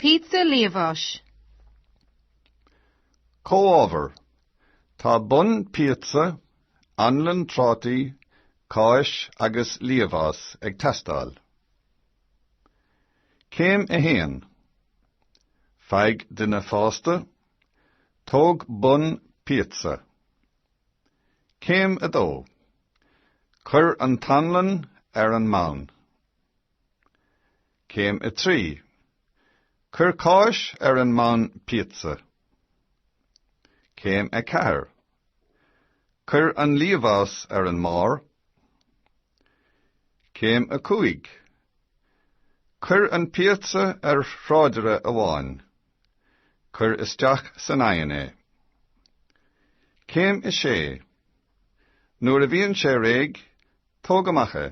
Píotsa liamháis. Comhábhair, Tá bonn píotsa, anlann trátaí, cáis agus liamhás ag teastáil. Céim 1. Faigh duine fásta, tóg bonn píotsa. Céim 2. Cuir an t-anlann ar an mbonn. Céim 3, Cuir cáis ar an mbonn píotsa. Céim 4, Cuir an liamhás ar an mbarr. Céim 5, Cuir an píotsa ar thráidire oighinn. Cuir isteach san oigheann é. Céim 6, Nuair a bhíonn sé réidh, tóg amach é.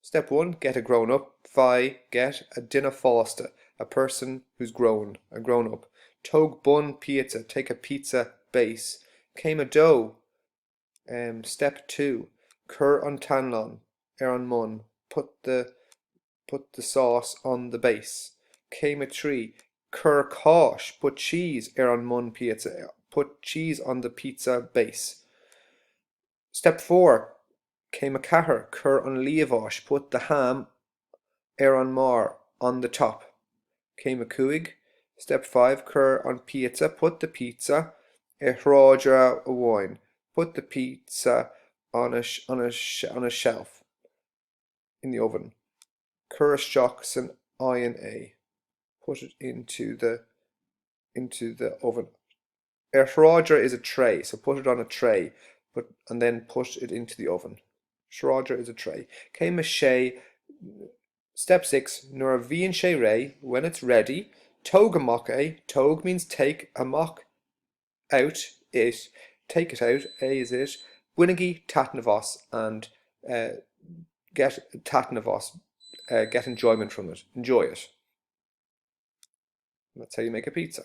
Step One, Get a grown-up, Faigh, get, a duine fásta, a person who's grown, a grown-up, Tóg bonn píotsa, take a pizza base, Céim 2, em, Step Two, Cuir an t-anlann ar an mbonn, put the, put the sauce on the base, Céim 3, Cuir cáis, put cheese, ar an mbonn píotsa, put cheese on the pizza base. Step four, Céim a ceathair, Cuir an liamháis, put the ham, ar an mbarr, on the top. Céim a cúig, Step five, Cuir an píotsa, put the pizza, ar thráidire amháin, put the pizza on a, on a, on a shelf, in the oven. Cuir isteach san oigheann é, put it into the, into the oven. Ar thráidire is a tray, so put it on a tray but and then put it into the oven. Thráidire is a tray. Céim 6 Step Six, Nuair a bhíonn sé réidh, when it's ready, tóg amach é, tóg means take, amach, out, it, take it out, é is it, bainigí taitneamh as, and, get, taitneamh as, get enjoyment from it, enjoy it. And that's how you make a pizza.